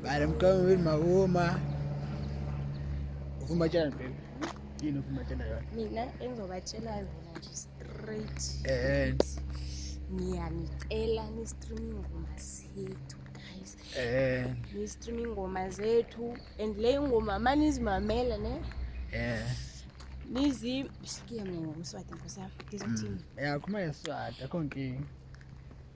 Bana mkama wewe mauma. Ufumba chana baby. Yini ufumba chana yona? Mina engizobatshela yona nje straight. Eh. Ngiyanicela ni streaming ngoma sethu guys. Eh. Ni streaming ngoma zethu and le ngoma mani izimamela ne? Eh. Nizi shikiya mina ngomswati nkosi yami. Ngizothini? Mm. Yeah, kuma yeswati akho nkinga.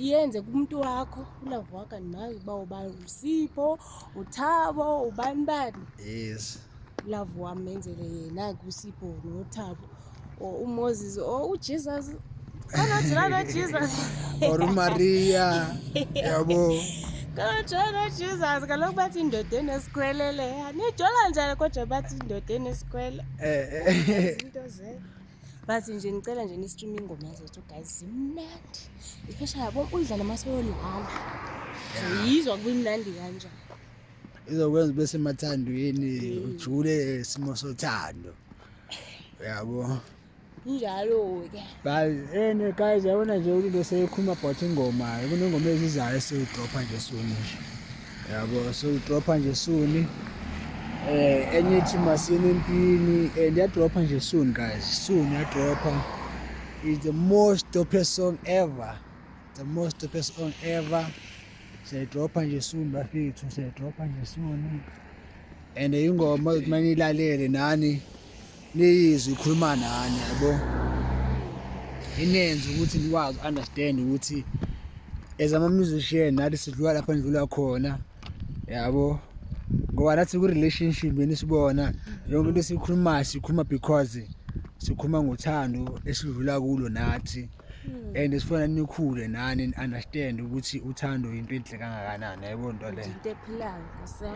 yenze kumuntu wakho ulavu wakho nawe uba uba usipho uthabo ubani bani yes ulavu wami menzele yena kusipho nothabo or umoses or ujesus kanajilana jesus or umaria yabo kanajilana jesus kaloku bathi indoda enesikhwele leya nijola njani kodwa bathi indoda enesikhwele um eh, eh. into zee but nje ngicela nje ni-stream ingoma zethu guys zimnandi especially yabo uyidlala uma seyolala zoyizwa kubimnandi kanjani izokwenza ube semathandweni ujule isimo sothando yabo njalo-ke ene guys yabona nje ulinto seyikhuluma about ingoma kunengoma ezizayo esiwudropha nje suni nje yabo sewudropha nje suni eh enye ithi masini empini and yadropha nje soon guys soon yadropha is the most dopest song ever the most dopest song ever siyayidropha nje soon bafethu siyayidropha nje soon and ingoma ukuthi maniyilalele nani Niyizwe ikhuluma nani yabo. Inenze ukuthi nikwazi understand ukuthi as ama musician nathi sidlula lapho ndlula khona yabo ngoba nathi ku relationship yini sibona yonke into esikhulumayo sikhuluma because sikhuluma ngothando esidlula kulo nathi Hmm. and sifuna nikhule nani ni understand ukuthi uthando into enhle kangakanani yayibona into le into ephilayo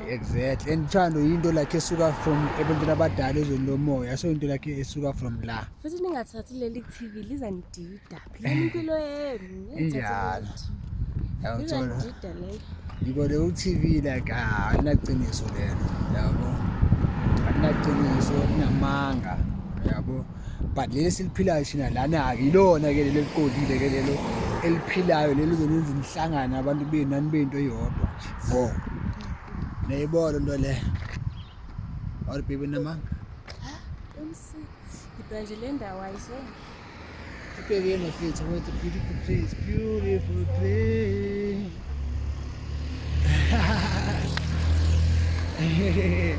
exactly and uthando into like esuka from ebantwini abadala ezweni lomoya so into like esuka from la futhi ningathathi leli TV liza nidida phela impilo yenu njalo yawuthola yiko le uTV like ah anaqiniso lelo yabo anaqiniso namanga yabo but leli siliphilayo thina lana-ke yilona-ke leli eliqondile ke lelo eliphilayo leli zonenza imihlangano abantu benu nani bento eyodwa vo nayibona into le or bibi namanga ibhanje le ndawo ayizona Peguei na frente, what a beautiful place, beautiful place. Hehehehe